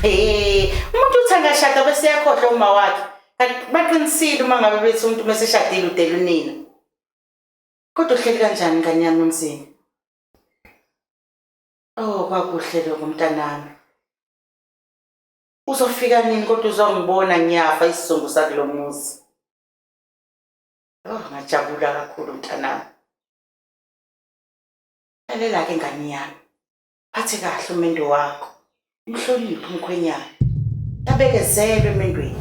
Eh, umuntu uthi angashada bese yakhohlwa uma wakhe. Baqinisile uma ngabe bethi umuntu uma seshadile udela unina. Kodwa uhleli kanjani ngane yami emzini? Oh, kwakuhle lokho mntanami. Uzofika nini kodwa uzongibona ngiyafa isizungu sakulo muzi. Oh, ngajabula kakhulu mntanami. Lalela-ke ngane yami, phathe kahle umendo wakho, umhloniphe umkhwenyana, abekezelwe emendweni.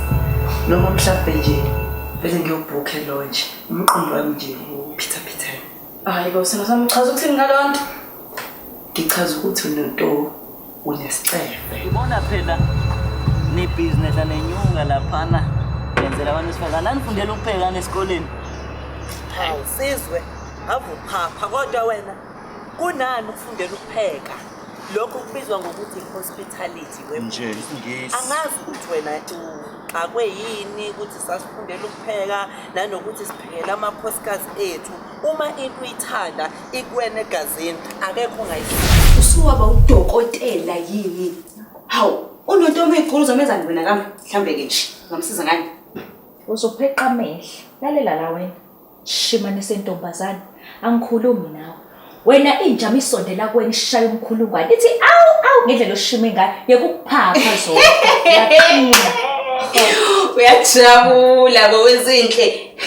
noma mhlawumbe nje vele ngiyobhukhe lonje umqondo wami nje uphithaphithane hayi bo sena samchaza ukuthini ngalo nto ngichaza ukuthi unento unescefe ngibona phela nebhizinesi anenyuka laphana yenzela abantu esifazane anifundela ukuphekana esikoleni hawu sizwe avuphapha kodwa wena kunani ukufundela ukupheka lokho kubizwa ngokuthi hospitality nje ngesi angazi ukuthi wena uxakwe yini ukuthi sasifundela ukupheka nanokuthi siphekela amakhosikazi ethu uma into uyithanda ikuwena egazini akekho ongayisi usuwaba udokotela yini hawu unonto uma igqulu zomenzani wena kami mhlambe-ke nje ngamsiza ngani uzopheqa amehla lalela la wena Shimane sentombazane, angikhulumi nawe. Wena inja misondela kuwena ishaya umkhulungwane. Ithi awu awu ngendlela oshima ingane yekuphapha zona. Yaqina. Uyajabula bowezinhle.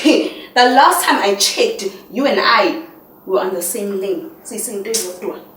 The last time I checked, you and I were on the same lane. Sisinto izodwa.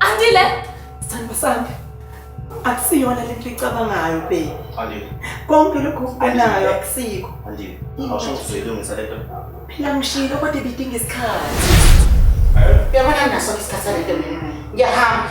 Andile! Sandwa sami. Akusiyona lento icabangayo baby. Andile. Konke lokho okubonayo akusiko. Andile. Awusho uzoyilungisa lento. Phela ngishilo kodwa ibidinga isikhathi. Uyabona nginaso isikhathi salento mina. Ngiyahamba.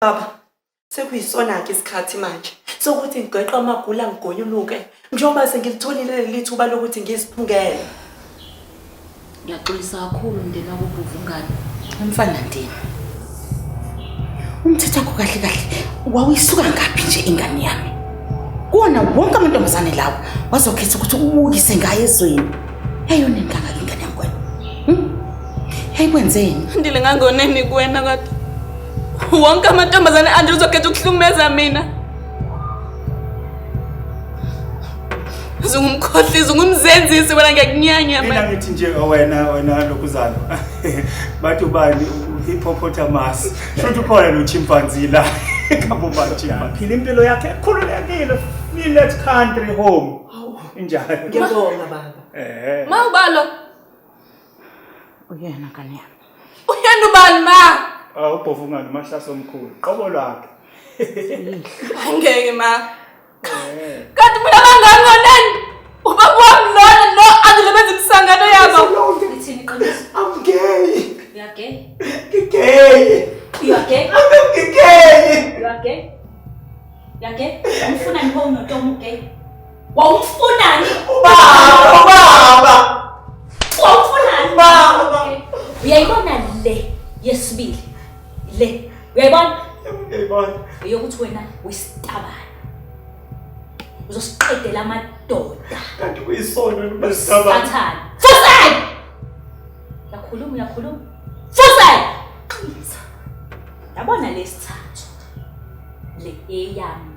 baba sekuyisona-ke isikhathi manje sokuthi ngigeqe amagula ngigonyuluke njengoba sengilitholile leli thuba lokuthi ngiziphungele ngiyaxolisa kakhulu mndeni wakobhuva ungane umfana ndini umthetho wakho kahle kahle wawuyisuka ngaphi nje ingane yami kuwona wonke amantombazane lawo wazokhetha ukuthi ubukise ngayo ezweni yayona ingangake ingane yami kwena hmm? yayikwenze yini ndile ngangoneni kuwena kodwa wonke amantombazane anje uzokhetha ukuhlukumeza mina zungumkhohlisi ungumzenzisi wena ngiyakunyanya mina ngithi nje oh, wena wena lokuzana bathi ubani hippopotamus shuthi ukhona lo chimpanzee la kabobanje aphila impilo yakhe ekhululekile feel that country home injalo ngiyabonga baba eh mawubalo Uyena ngane yami. Uyena ubani ma? Ah ubhovu ngani umahlaso omkhulu. Qobo lwakhe. Angeke ma. Eh. Kanti mina bangani ngonani? Ubaba wami lona no angilebenza imisangano yabo. Ngithini qiniso? I'm gay. You are gay. Ngigay. You are gay. I'm gay. You are gay. You are gay. Ngifuna ngibone umuntu omugay. Wawumfunani? Ubaba, ubaba. Wawumfunani? Ubaba. Uyayibona le yesibili. Le. Uyayibona? Uyayibona. Uyokuthi wena uyisitabana. Uzosiqedela amadoda. Kanti kuyisona lobasitabana. Sathana. Fusay! Yakhuluma, yakhuluma. Fusay! Yabona lesithathu. Le eyami.